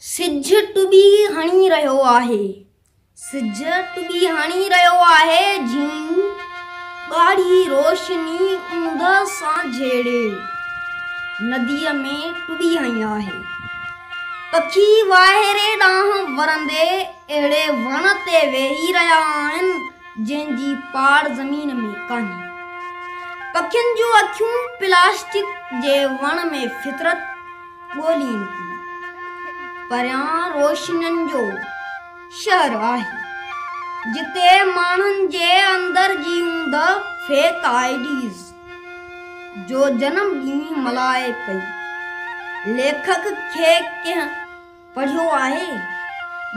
سج ٽٻي هڻي رهيو آهي. سج ٽٻي هڻي رهيو آهي جيئن ڳاڙهي روشني اوندهه سان جهيڙي نديء ۾ ٽٻي هنئي آهي. پکي واهيري ڏانهن ورندي اهڙي وڻ تي ويهي رهيا آهن جنهن جي پاڙ زمين ۾ ڪانهي. پکين جون اکيون پلاسٽڪ جي وڻ ۾ فطرت ڳولين ٿي. پريان روشنين جو شهر آهي، جتي ماڻهن جي اندر جي اوندهه فيڪ آئي ڊيز جو جنم ڏينهن ملهائي پئي. ليکڪ کي ڪنهن پڙهيو آهي،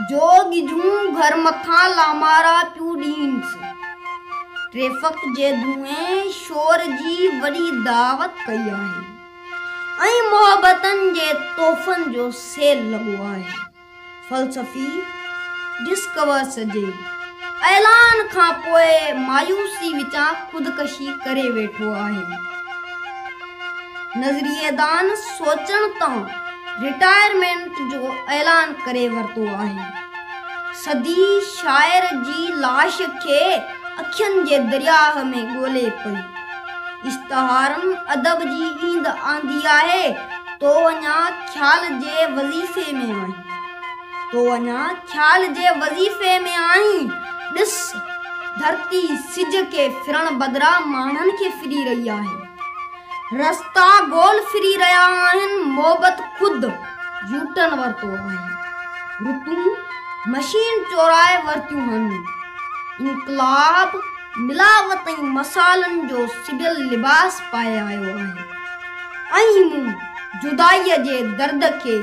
جو ڳجهون گهر مٿان لامارا پيون ڏينس، ٽريفڪ جي ڌوئين شور جي وڏي دعوت ڪئي آهي. ۽ محبتن جي تحفن جو سيل لڳو آهي. فلسفي ڊسڪورس جي اعلان کان پوء مايوسي وچان خودڪشي ڪري ويٺو آهي. نظرييدان سوچڻ تان رٽائرمينٽ جو اعلان ڪري ورتو آهي. صدي شاعر جي لاش کي اکين جي درياهه ۾ ڳولي پئي. اشتهارم ادب جي ايند آندي آهي، تو اڃا خيال جي وظيفي ۾ آهين، تو اڃا خيال جي وظيفي ۾ آهين، ڏس ڌرتي سج کي ڦرڻ بدران ماڻهن کي ڦري رهي آهي، رستا گول ڦري رهيا آهن، محبت خود يوٽرن ورتو آهي، رتون مشين چورائي ورتيون هن، انقلاب ملاوت ۽ مصالحن جو سجيل لباس پائي آيو آهي ۽ مون جدائيء جي درد کي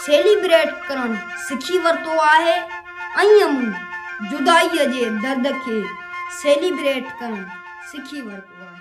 سيليبريٽ ڪرڻ سکي ورتو آهي ۽ مون جدائيء جي درد کي سيليبريٽ ڪرڻ سکي ورتو آهي.